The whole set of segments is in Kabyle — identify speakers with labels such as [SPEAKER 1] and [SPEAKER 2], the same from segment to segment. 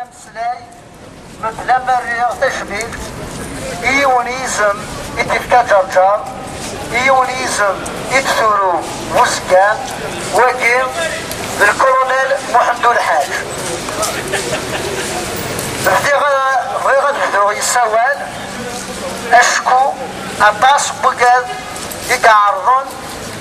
[SPEAKER 1] Ameslay, mebla ma rriɣ tacbilt i yiwen yizem i d-ifka ǧerǧer, i yiwen yizem i d-turu Buzgan, wagi d lkolonel Muḥend Ulḥaǧ. Bdiɣ bɣiɣ ad bduɣ yessawal acku aṭas n wugad i iɛerḍen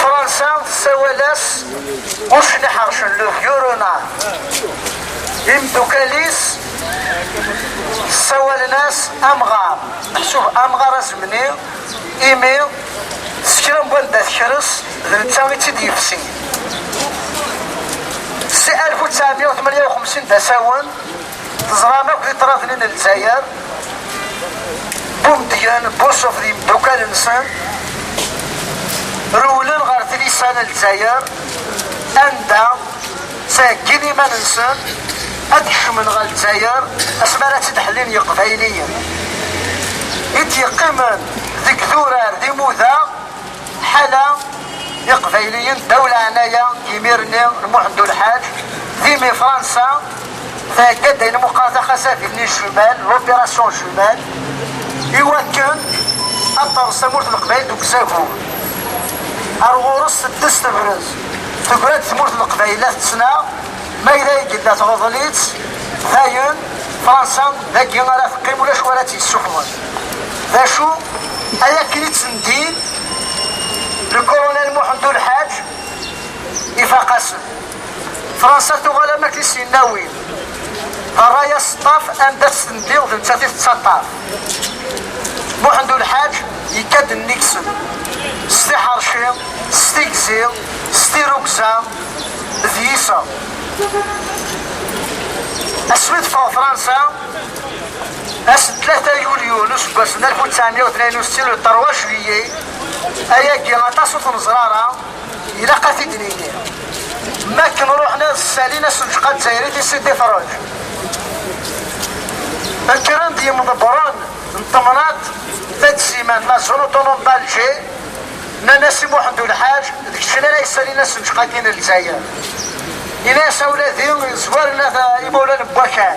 [SPEAKER 1] Fransa tessawal-as ucen iḥercen le vieux imdukkal-is ssawalen-as amɣar meḥsub amɣar azemni imi s kra n wanda tekres d netta i tt-id-yefsi si 1958 d asawen Teẓram akk di ṭrabli n Lezzayer, Bumedyen, Bursuf d yimeddukkal-nsen rewlen ɣer tlisa n Lezzayer anda ttheggin iman-nsen ad d-kecmen ɣer Lezzayer asmi ara tt-id-ḥellin Yeqbayliyen i d-yeqqimen deg durar d imuda Ḥala iqbayliyen ddaw laɛnaya n yimir-nni n Muḥend Ulḥaǧ, d imi Fransa thegga-d ayen meqqar taxasabit-nni jumelle, l'opération jumelle, i wakken ad terẓ tamurt n Leqbayel deg uzagur. Ar ɣur-s teddes tebrez, tegra-d tmurt n Leqbayel la tettnaɣ, ma yella ay yella tɣeḍl-itt, dayen Fransa dagi ara teqqim ulac wara tt-yessufɣen. d acu ay akken i tt-ndin lkurunal Muḥend Ulḥaǧ ifaq-asen. Fransa tuɣal am akken i s-yenna-win d ṛṛay aseṭṭaf anda tt-tendiɣ d nettat i tettaṭṭaf. Muḥend Ulḥaǧ yekka-d nnig-sen s tiḥerci, s tigzi, s tirugza d yiseɣ. Asmi d-teffeɣ Fransa, Ass n tlata yulyu n useggas n alef u tesεemya u tniyen u settin, le trois juillet, ayagi aṭas ur t-neẓra ara, ilaq ad t-id-nini. Mi akken ruḥen ad ssalin assuǧeq-a zzayri di Sidi Ferruǧ, kkren-d yimḍebbren n temnaḍt Tadzima de la zone autonome d'Alger, nnan-as i Muḥend Ulḥaǧ, d keččini ara yessalin assuǧeq-agi n Lezzayer. Yenna-as, a wladi, zwaren-ak imawlan n wakal.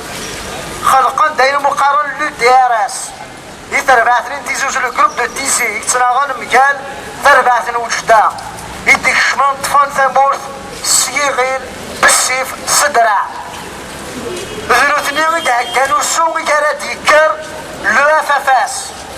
[SPEAKER 1] Xelqen-d ayen umi qqaren l'UDRS di terbaɛt-nni n Tizi Uzzu, le groupe de Tizi, i yettnaɣen mgal tarbaɛt n Wejda, i d-ikecmen ṭṭfen tamurt s yiɣil bessif s ddreɛ. D nutni i d-iheggan usu i ara d-yekker l'EFFS.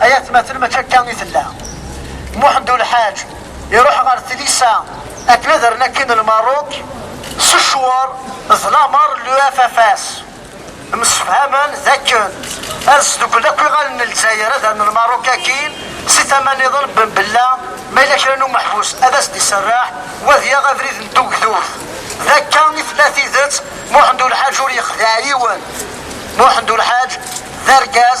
[SPEAKER 1] ay atmaten mačči akka i tella muḥend ulḥaǧ iruḥ ɣer tlisa akken ad rren akin lmaruk s ccwar d lamer n l'UFFS msefhamen d akken ad sdukkel akk iɣallen n lezzayer ad rren lmaruk akin si tama niḍen ben bella ma yella kra n umeḥbus ad as-d-iserreḥ wa ad yaɣ abrid n tugdut d akka i tella tidet muḥend ulḥaǧ ur yexdiɛ yiwen muḥend ulḥaǧ d argaz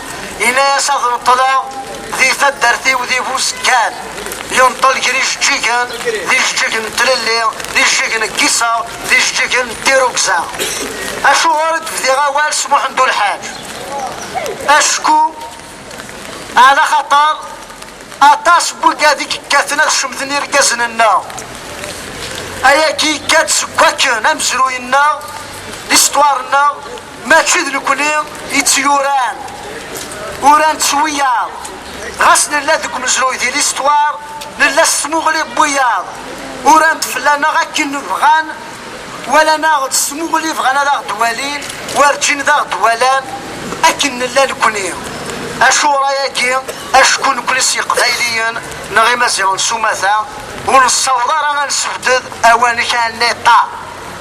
[SPEAKER 1] Yenna-yas ad neṭṭleɣ di taddart-iw di Busekkan. Yenṭel gar ijeǧǧigen, d ijeǧǧigen n tlelli, d ijeǧǧigen n Kisa, d ijeǧǧigen n Tirugza. Acuɣer i d-bdiɣ awal s Muḥend Ulḥaǧ? Acku ɛla xaṭer aṭas n wigad i yekkaten ad cemten irgazen-nneɣ. Ayagi yekka-d seg wakken amezruy-nneɣ, listwar-nneɣ, Mačči d nekkni i tt-yuran, uran-tt s wiyaḍ, ɣas nella deg umezruy di listwar, nella s tmuɣli n wiyaḍ, uran-d fell-aneɣ akken bɣan, walan-aɣ-d s tmuɣli bɣan ad aɣ-d-walin, werǧin d aɣ-d-walan akken nella nekkni. Acuɣer ayagi? Acku nekkni s Yeqbayliyen neɣ Imaziɣen s umata, ur nessaweḍ ara ad nesbded awanek anniṭa,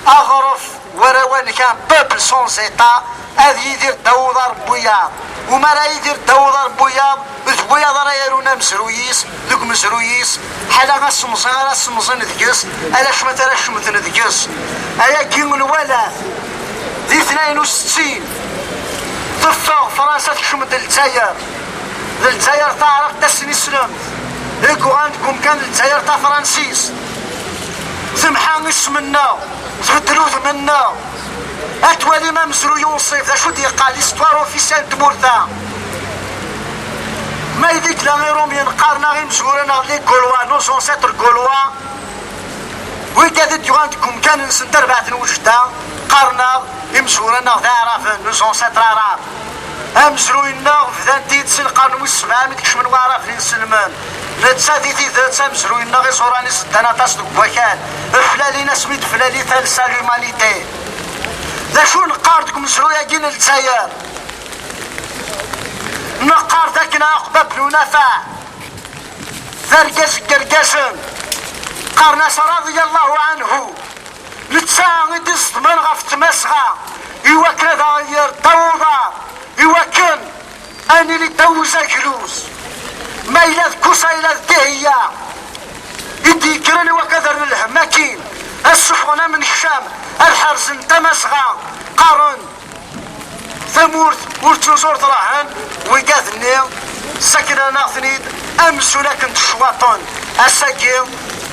[SPEAKER 1] aɣref, War awanek un peuple sans état ad yidir ddaw uḍar n wiyaḍ. U mi ara yidir ddaw uḍar n wiyaḍ, d wiyaḍ ara yarun amezruy-is deg umezruy-is, ḥala asemẓi ara semẓin deg-s, ala cwiṭ ara cemten deg-s. Ayagi nwala-t di tnayen u settin, teffeɣ Fransa tekcem-d Lezzayer, d Lezzayer taɛraqt tasnislemt i yuɣalen deg umkan d Lezzayer tafransist, temḥa isem-nneɣ. tbeddel udem-nneɣ ad twalim amezruy unṣib d acu d-yeqqal histoire officielle n tmurt-a ma ideg la irumyen qqaren aɣ imezwura neɣ li golwa nos ancêtres golwa wid ad d-yuɣal deg umkan-nsen tarbaɛt n wejda qqaren aɣ imezwura neɣ d aɛraben nos ancêtres arab amezruy-nneɣ bdan-t-id si lqern wis sebɛa mi d-kecmen waɛraben inselmen netta di tidet amezruy-nneɣ iẓuran-is ddan aṭas deg wakal Eflalin asmi i d-eflali talsa l'humanité. D acu neqqar deg umezruy-agi n Lezzayer? Neqqar d akken Ɛuqba Ben Unafaɛ d argaz n yergazen, qqaren-as radiyallahu anhu, netta i d-iẓedmen ɣef Tmazɣa i wakken ad aɣ-yerr ddaw uḍar, i wakken Ad nili ddaw uzagluz, ma yella d Kusa yella d Dihiyya, i d-yekkren i wakk ad rren lhemm akkin, ad suffɣen amenkcam, ad ḥerzen Tamasɣa, qqaren tamurt ur ttuzur trahen, wigaden-nni ssakren-aneɣ-ten-id amzun akken d-cwaṭen, ass-agi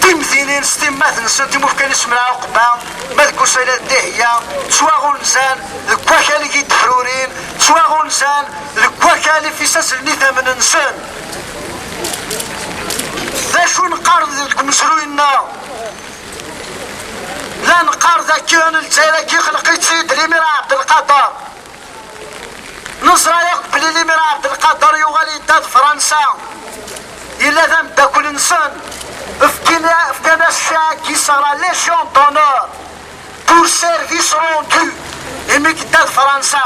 [SPEAKER 1] timdinin s timmat-nsent i mufkan isem n Ɛuqba, ma d Kusa yella d Dihiyya, ttwaɣunzan deg wakal i yi-d-ḥrurin, ttwaɣunzan deg wakal ifisasen n idammen-nsen. D acu neqqar deg umezruy-nneɣ? La neqqar dakken Lezzayer-agi xleq-itt-id Limira Ɛebdelqader. Neẓra akk belli Limira Ɛebdelqader yuɣal yedda d Fransa. Yella d ameddakel-nsen. Fkan-as cak i Sara Légion d'honneur. Urser d isrungi imi yedda d Fransa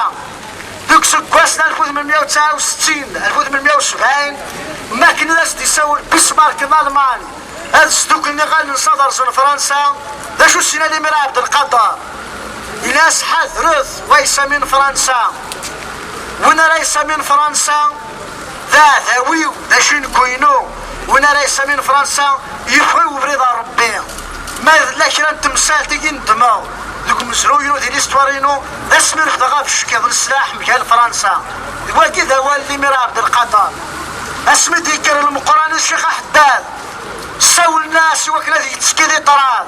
[SPEAKER 1] deg useggas n alef u tmenmiya u tesɛa u settin alef u tmenmiya u sebɛin mi akken i as-d-isawel Bismarck n Alman ad sduklen iɣallen-nsen ad rẓen Fransa. D acu s-yenna limir Ɛebdelqader? Yenna-as, Ḥadret, wa yesamin Fransa, win ara yesamin Fransa, D aɛdaw-iw, d acu i nekk-inu, win ara yessalin Fransa, yeffeɣ-iw ubrid ɣer Rebbi. Ma yella kra n temsalt i yi-nedmeɣ deg umezruy-inu di listwar-inu, d ass mi refdeɣ abeckiḍ n sslaḥ mgal Fransa. D wagi i d awal n Limir Abdelkader. Asmi d-yekker Lmeqqran i Ccix Aḥeddad, ssawlen-as i wakken ad yettekki di ṭṭrad.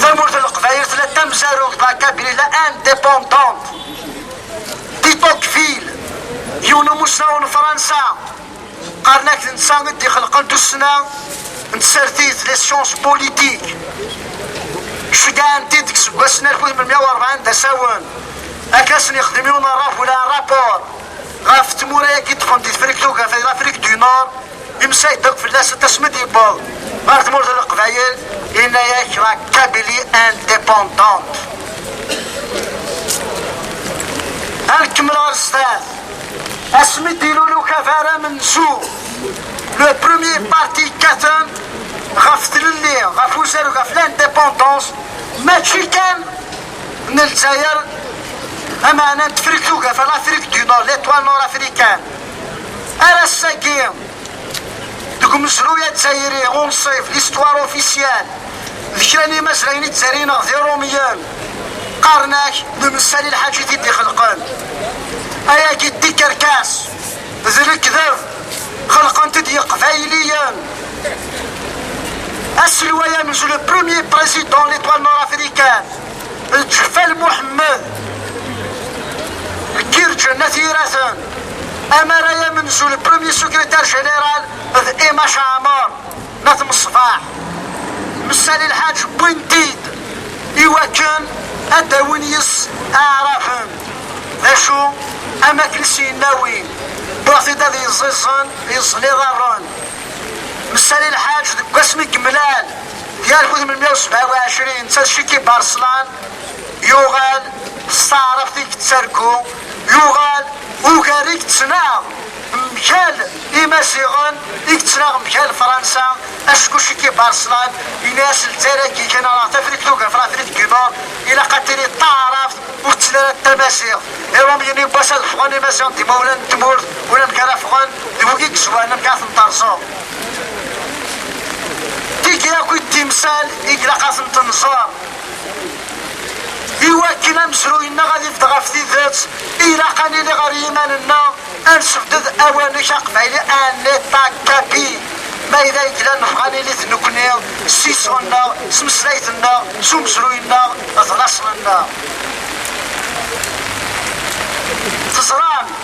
[SPEAKER 1] Tamurt n Leqbayel tella d tamezarut d la Kabylie indépendante. Di Tocqueville, yiwen umussnaw n Fransa, qqaren-ak d netta i d-ixelqen tussna n tsertit, les sciences politiques. Ceggɛen-t-id deg iseggasen 1840 d asawen, akka ad sen-yexdem yiwen n rraf wala rapport ɣef tmura-agi ṭṭfen di Tefrikt Tugafa, di l'Afrique du Nord, Imsay ddeq fell-asent asmi d-yewweḍ ɣer tmurt n Leqbayel, yenna-yak la Kabylie indépendante. Ad nkemmel ɣer sdat. Asmi d-ilul ukabar amenzu, le premier parti kkaten ɣef tlelli, ɣef uzarug, ɣef l'indépendance, mačči kan n Lezzayer, amaɛna n Tefrikt Tugafa, l'Afrique du Nord, l'étoile nord-africaine. Ar ass-agi, deg umezruy azzayri unṣib, l'histoire officielle, d kra n yimazrayen i d-ttarrineɣ d Iṛumiyen, qqaren-ak d Messali Elḥaǧi i t-id-ixelqen. Ayagi d tikerkas, d lekdeb, xelqen-t-id Yeqbayliyen. Aselway amezruy, le premier président de l'Etoile Nord-Africaine, Lǧeffal Muḥemmed deg irǧen at yiraten amar ay amenzu le premier secrétaire général d Emma Chaamar n At Mṣebaḥ Messali Lḥaǧ wwin-t-id i wakken ad d-awin yis aɛrafen d acu am akken s yennawin wwiɣ-t-id ad yeẓẓiẓen yeẓẓel iḍarren Messali Lḥaǧ deg wasmi yemlal Di akud n mya u sebɛa u ɛecrin, netta Ciki Barselan yuɣal s taɛrabt i yettargu, yuɣal ugar i yettnaɣ mgal Imaziɣen i yettnaɣ mgal Fransa, acku Ciki Barselan yenna-as lezzayer-agi kan ara ɣ-tafriqt ugar Frafriqt du Nord ilaq ad tili d taɛrabt ur tettili ara d tamaziɣt. Irom yenna i wass ad ffɣen Imaziɣen d imawlan n tmurt, unamek ara ffɣen d wigi yezwaren amek ara ten-terẓeḍ. Tigi akk i d timsal i ilaq ad tent-nẓer. Iwakken amezruy-nneɣ ad ibedd ɣef tidet, ilaq ad nili ɣer yiman-nneɣ, ad nesbded awanek aqbayli un État capi. Ma yella i yellan nebɣa ad nili d nekkni, s iseɣ-nneɣ, s tmeslayt-nneɣ, s umezruy-nneɣ, d laṣel-nneɣ. Teẓram.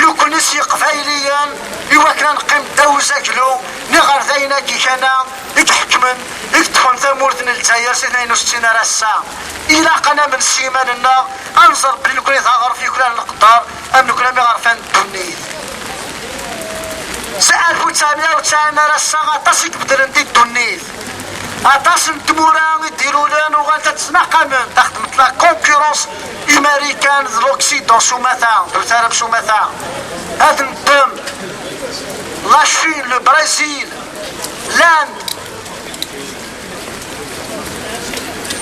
[SPEAKER 1] Nekni s Yiqbayliyen i wakken ad neqqim ddaw uzaglu n iɣerdayen-agi kan-a i iḥekmen, i yeṭṭfen tamurt n Lezzayer si tnayen u settin ar ass-a. Ilaq ad namen s yiman-nneɣ, ad nẓer belli nekni d aɣref yuklalen leqder, am nekni am iɣerfan n ddunit. Si alef u ttɛemya u ttsɛin ar ass-a aṭas i ibeddlen di ddunit. Aṭas n tmura i d-ilulen uɣal ad ttnaqamen taxedmet la concurrence imarikan d l'Occident s umata d utarab s umata ad neddem la Chine, le Brésil, l'Inde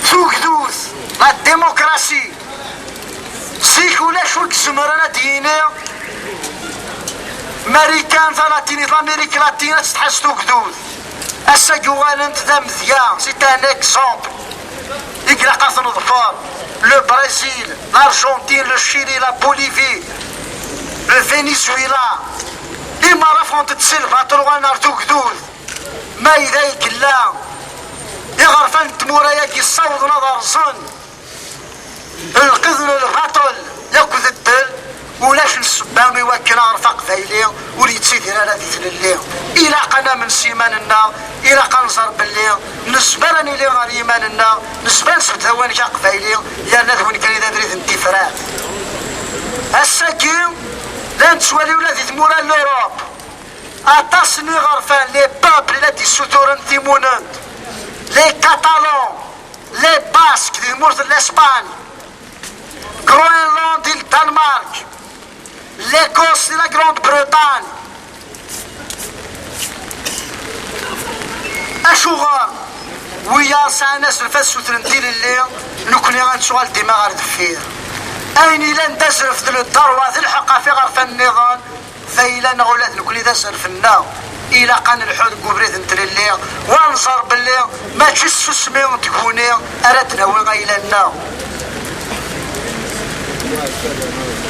[SPEAKER 1] tugdut la démocratie zik ulac ur d-zemren ad d-yini marikan talatinit l'Amérique latine ad tettḥaz tugdut Ass-a yuɣalen-d d amedya c'est un exemple i ilaq ad t-neḍfer le Brésil, l'Argentine, le Chili, la Bolivie, le Venezuela imara ffɣent-d si lbaṭel uɣalen ar tugdud ma yella i yella iɣerfan n tmura-agi ssawḍen ad rẓen Lqid n lbaṭel akked ddel, ulac n ssebba i wakken aɣref aqbayli ur yettidir ara di tlelli. Ilaq ad namen s yiman-nneɣ, ilaq ad nẓer belli nezmer ad nili ɣer yiman-nneɣ, nezmer ad nesbedd awanek aqbayli yerna d win kan i d abrid n tifrat. Ass-agi, la nettwali ula di tmura n Lurup, aṭas n iɣerfan, les peuples, i la d-issuturen timunent, les catalans, Les Basques di tmurt n Lespagne, Groenland di Danmark, l'Écosse di la Grande-Bretagne. Acuɣer wiyaḍ sɛan azref ad sutren tilelli nekkni ad nettuɣal dima ɣer deffir. Ayen ilan d azref d leddar wa d lḥeqq ɣef iɣerfan-nniḍen D ayla neɣ ula d nekkni d aserfenneɣ, ilaq ad nelḥu deg ubrid n tlelli, u ad nẓer belli mačči s tsusmi n tguni ara d-nawi ayla-nneɣ.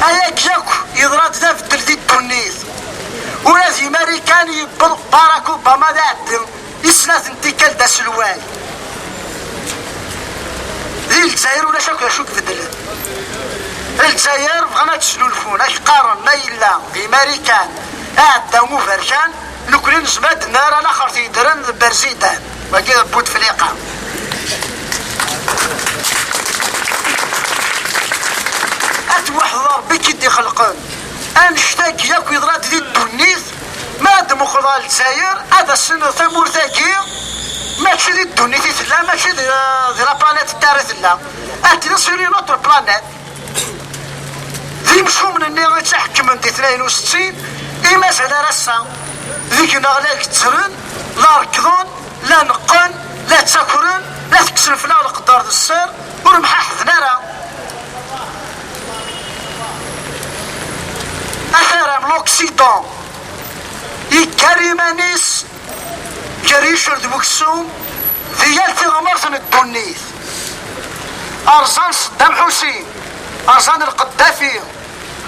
[SPEAKER 1] Ayagi akk yeḍra-d d abeddel di ddunit. Ula di Marikan yewweḍ Barack Obama d iɛeddi. I snat n tikkal d aselway. Di Lezzayer ulac akk d acu tbeddlen. Lezzayer bɣan ad snulfun, ak qqaren ma yella d Imarikan, aɛedda uberkan, nekkni nezmer ad nerr alaxer t-yeddren d Berzidan, wagi d Butefliqa. At waḥed Rebbi k-id-ixelqen, annect-agi akk yeḍra-d di ddunit, Mi ara d-temmuqleḍ ɣer Lezzayer, ad as-tiniḍ tamurt-agi mačči di ddunit i tella, mačči di eh, la planète Terre i tella. Ad tiniḍ sur une autre planète. D imcumen-nni i tt-iḥekkmen di tnayen u settin, i mazal ar ass-a deg-neɣ la gezzren, la rekkḍen, la neqqen, la ttakren, la tekksen fell-aɣ leqder d sser, ur mḥaḥden ara. Aḥeram l'Occident yekker iman-is ger icel d weksum di yal tiɣmert n ddunit. Rẓan Seddam Ḥusin, rẓan Lqeddafi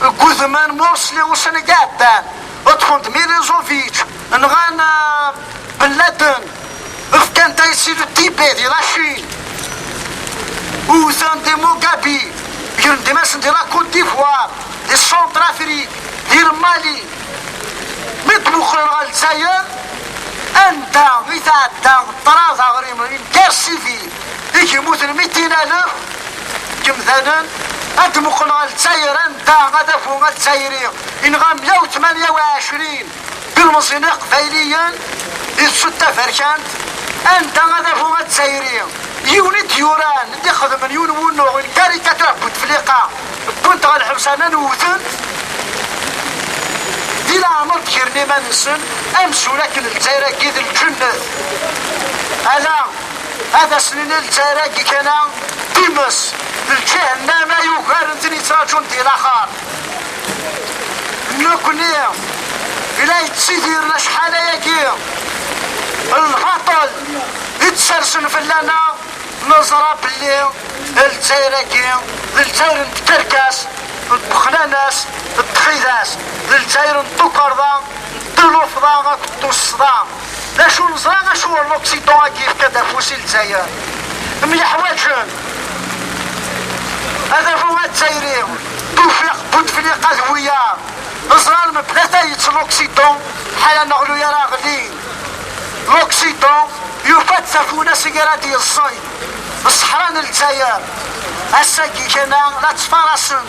[SPEAKER 1] deg udman Mursi ussan-agi iɛeddan. Ṭṭfen d Milosevic, nɣan Ben Laden, fkan-d aysi d Tibet di Lacin, wwten di Mugabi, gren-d imasen di la Côte d'Ivoire, di Centrafrique, di Mali. Mi d-muqlen ɣer Lezzayer, anda i tɛedda ṭṭrad aɣrim, une guerre civile. i yemmuten mi d-inaleɣ yemdanen ad d-muqel ɣer Lezzayer anda adabu azzayri yenɣa 128 ilmeẓyen iqbayliyen di tsut taberkant anda adabu azzayri yiwen i d-yuran i d-ixedmen yiwen wunuɣ n karikatur n Bouteflika wwent ɣer lḥebs arna nwten di leɛmer d-gren iman-nsen amzun akken Lezzayer-agi d lǧennet ala Ad as-nini lezzayer-agi kan-a times d lǧihenama yugaren tin yettraǧun di laxar. Nekkni i la yettidiren acḥal ayagi n lbaṭel i d-sersen fell-aneɣ, neẓra belli lezzayer-agi d lezzayer n tkerkas, n ddexnana-s, n txidas, d lezzayer n tukerḍa, n tlufḍa akked tussḍa. D acu neẓra d acu ur l'Occident agi yefka-d afus i Lezzayer. Myeḥwaǧen. Adabu Azzayri, Tufiq, Bouteflika d wiyaḍ. Neẓra mebla tayet l'Occident ḥala neɣlu ara ɣlin. L'Occident yufa-d tafuna seg ara d-yeẓẓeg ṣṣeḥra n Lezzayer. Ass-agi kan-a la ttfarasen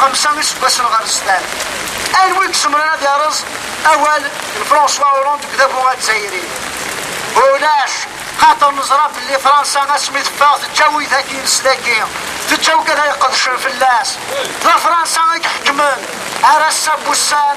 [SPEAKER 1] Xemsa iseggasen ɣer sdat, anwa i izemren ad yerreẓ awal n François Hollande deg udabu azzayri? Ulac, xaṭer neẓra belli Fransa asmi teffeɣ teǧǧa widak i nesdagi, teǧǧa wid ara iqedcen fell-as. D Fransa i iḥekmen ar ass-a n wussan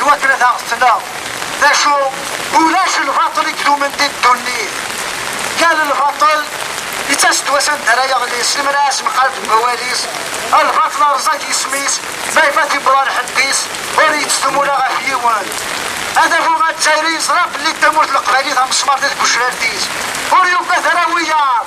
[SPEAKER 1] i wakken ad aɣ-tettneɣ. D acu? Ulac lbaṭel i idumen di ddunit. Yal lbaṭel yettas-d wass anda ara yeɣli, s lemra asemqaleb n wawal-is, lbaṭel rẓag isem-is, ma ifat yewweḍ ar ḥedd-is, ur yettdum ula ɣef yiwen. Adabu azzayri yeẓra belli d tamurt n leqbaylit amesmaṛ di tgecrart-is, ur yugad ara wiyaḍ.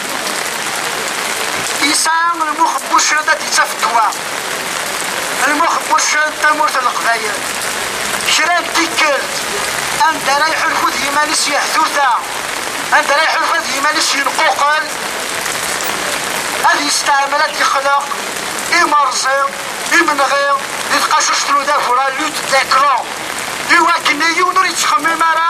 [SPEAKER 1] Yesɛa lmux n wuccen ad d-ittaf ddwa. Lmux n wuccen d tamurt n Leqbayel. Kra n tikkelt, anda ara iḥulfu d yiman-is yehtuta, anda ara iḥulfa d yiman-is yenquqel, ad yesteɛmel ad d-ixleq imerẓi, imenɣi, di tqacuct n udabu, la lutte des clans, iwakken yiwen ur yettxemmim ara.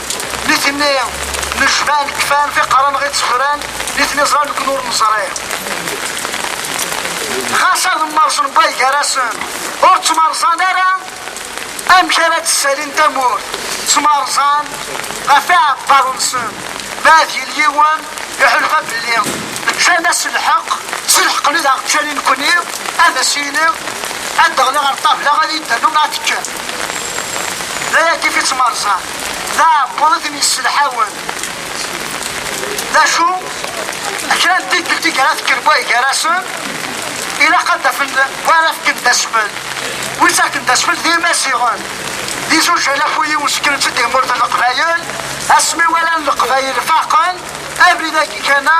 [SPEAKER 1] nitni nejban kfan tiqran ɣi ttefran nitni ẓran ken ur neẓri ɣas ad mmerẓen way gar-asen ur ttmerẓan ara amek ara d-ssalin tamurt ttmerẓan ɣef iɛebbaḍ-nsen ma ad yili yiwen iḥulfa belli ččan-as lḥeq s lḥeqni daɣ ččan i nekni ad as-yini ad d-ɣliɣ ar ṭabla ad yi-d-ternum ad tekkem d ayagi i ttmerẓan d aɛebbuḍ i ten-yesselḥawen. D acu? D kra n tikkelt i ara fken way gar-asen, ilaq ad d-afen wa ara fken d asfel. Wi ttaken d asfel d Imaziɣen. D izujal akk wid iwesken-tt-id di tmurt n Leqbayel, asmi walan Leqbayel faqen abrid-agi kan-a,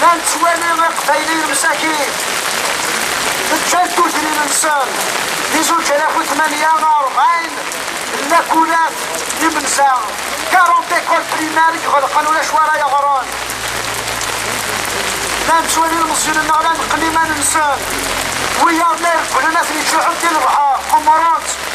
[SPEAKER 1] La nettwali iqbayliyen msakin ǧǧan tudrin-nsen di zuǧ alaf u tmanya neɣ rebɛin n lakulat n yimenza, 40 écoles primaires, iɣelqen ulac wi ara yeɣren. La nettwali ilmeẓyen-nneɣ la neqqen iman-nsen, wiyaḍ la iregglen ad ten-iǧǧuḥ-d di lebḥer, qemmren-tt.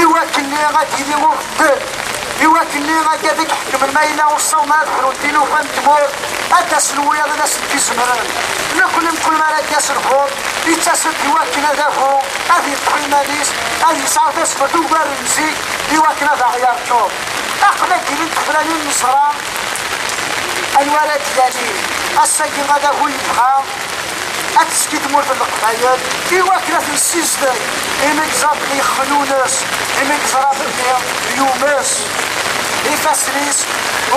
[SPEAKER 1] i wakken-nni ad d-yili ubeddel, i wakken-nni akka ad k-ḥekmen ma yella uṣṣawen ad ḥrun tilufa n tmurt, ad d-asen wiyaḍ ad asen-d-izemren. Nekkni mkul mi ara d-yas lxuf, yettasen-d i wakken ad afu, ad yeṭṭef iman-is, ad yesɛu tasfert ugar n zik i wakken ad aɣ-yerǧu. Aql-i ad d-ilint tefranin neẓra anwa ara d-yalin. Ass-agi ad afu yebɣa. ad d-tezgi tmurt n Leqbayel i wakken ad ten-ssizdeg, imi yeẓra belli yexmen ul-is, imi yeẓra belli yumes, ifassen-is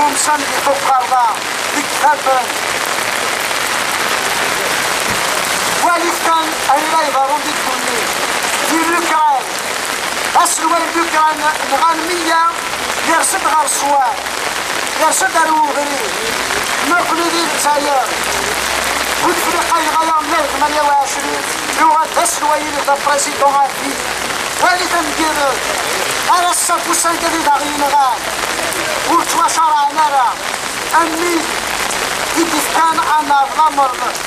[SPEAKER 1] umsen di tuqerḍa, deg tafent. Walit kan ayen la iḍerrun di ddunit, di Lukran, aselway n Lukran nɣan meyya, yers-d ɣer ṣṣwab, yers-d ar ubrid. Nekkni di Lezzayer, bu tefriqa yenɣa-yaɣ mya d tmanya u ɛecrin, yuɣal d aselway-nni d aprésident à vie. Walit amgired, ar ass-a n wussan kan i d aɣ-yenɣan, ur ttwacareɛen ara am wid i d-ifkan anaṛ lameṛ.